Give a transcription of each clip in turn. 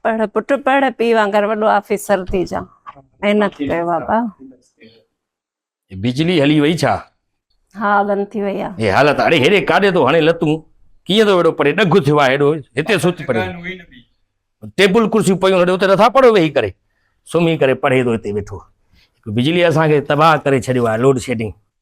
پڙهه پٽ پڙهه، پيء وانگر وڏو آفيسر ٿي جا. محنت ڪيو بابا. بجلي هلي وئي ڇا؟ ها بند ٿي وئي آ. هي حالت اڙي هيڏي ڪاڏي ٿو هڻي لتون ڪيئن ٿو هيڏو پري ڏگهه ٿيو آ هيڏو هتي سوت پري ٽيبل ڪرسيون پيون هيڏو هتي نٿا پڙهو ويهي ڪري سمهي ڪري پڙهي ٿو هتي ويٺو بجلي اسان کي تباهه ڪري ڇڏيو آ لوڊ شيڊنگ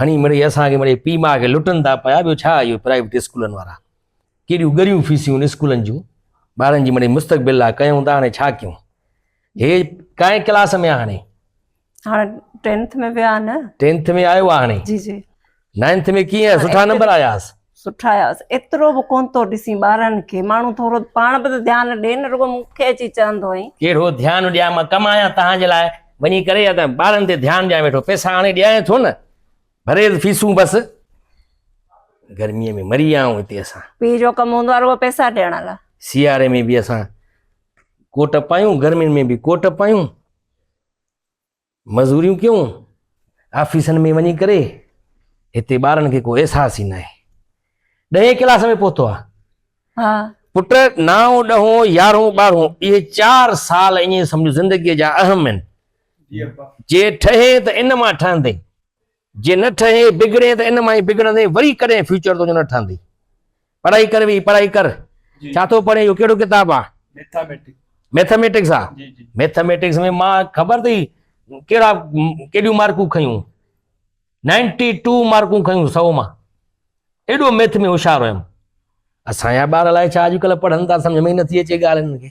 هڻي مڙئي اسان کي مڙئي پيء ماء کي لٽن ٿا پيا، ٻيو ڇا اهو پرائيوٽ اسڪولن وارا ڪيڏيون ڳريون فيسيون ان اسڪولن جون ٻارن جي مڙئي مستقبل لا ڪيون ٿا هاڻي ڇا ڪيون هي ڪائين ڪلاس ۾ هاڻي هاڻي ٽينٿ ۾ ويا نه ٽينٿ ۾ آيو هاڻي جي جي نائنٿ ۾ ڪيئن سٺا نمبر آياس سٺا آياس ايترو به ڪون ٿو ڏسين ٻارن کي ماڻهو ٿورو پاڻ به ته ڌيان ڏي نه رڳو مون کي اچي چوندو آهين. ڪهڙو ڌيان ڏيان مان ڪم آهيان تهان جي لاء وڃي ڪري يا ته ٻارن تي ڌيان ڏيان ويٺو پئسا آڻي ڏيانء ٿو نه ڀريز فيسون بس گرمي ۾ مري آئون هتي اسان پيء جو ڪم هوندو آهي رڳو پئسا ڏيڻ لاء سياري ۾ به اسان ڪوٽ پايون گرمين ۾ به ڪوٽ پايون مزوريون ڪيون، آفيسن ۾ وڃي ڪري، هتي ٻارن کي ڪو احساس ئي ناهي. ڏهين ڪلاس ۾ پهتو آهي. ها. پٽ، نائون، ڏهون، يارهون، ٻارهون، اهي چار سال ائين سمجهه زندگيء جا اهم آهن. جي ٺهين ته ان مان ٺهندين. جي نه ٺهين، بگڙين ته ان مان ئي بگڙندين، وري ڪڏهن فيوچر تنهنجو نه ٺهندي. پڙهائي ڪر ويهي، پڙهائي ڪر. ڇا ٿو پڙهين، اهو ڪهڙو ڪتاب آ؟ ميٿاميٽڪس. ميٿاميٽڪس آ؟ جي جي. ميٿاميٽڪس ۾ مان خبر اٿئي ڪهڙا ڪيڏيون مارڪون کنيون؟ نائنٽي ٽو مارڪون کنيون سؤ مان. ايڏو ميٿ ۾ هوشيار هيم. اسان جا ٻار الائي ڇا اڄڪلهه پڙهن ٿا، سمجهه ۾ ئي نٿي اچي ڳالهه هنن کي.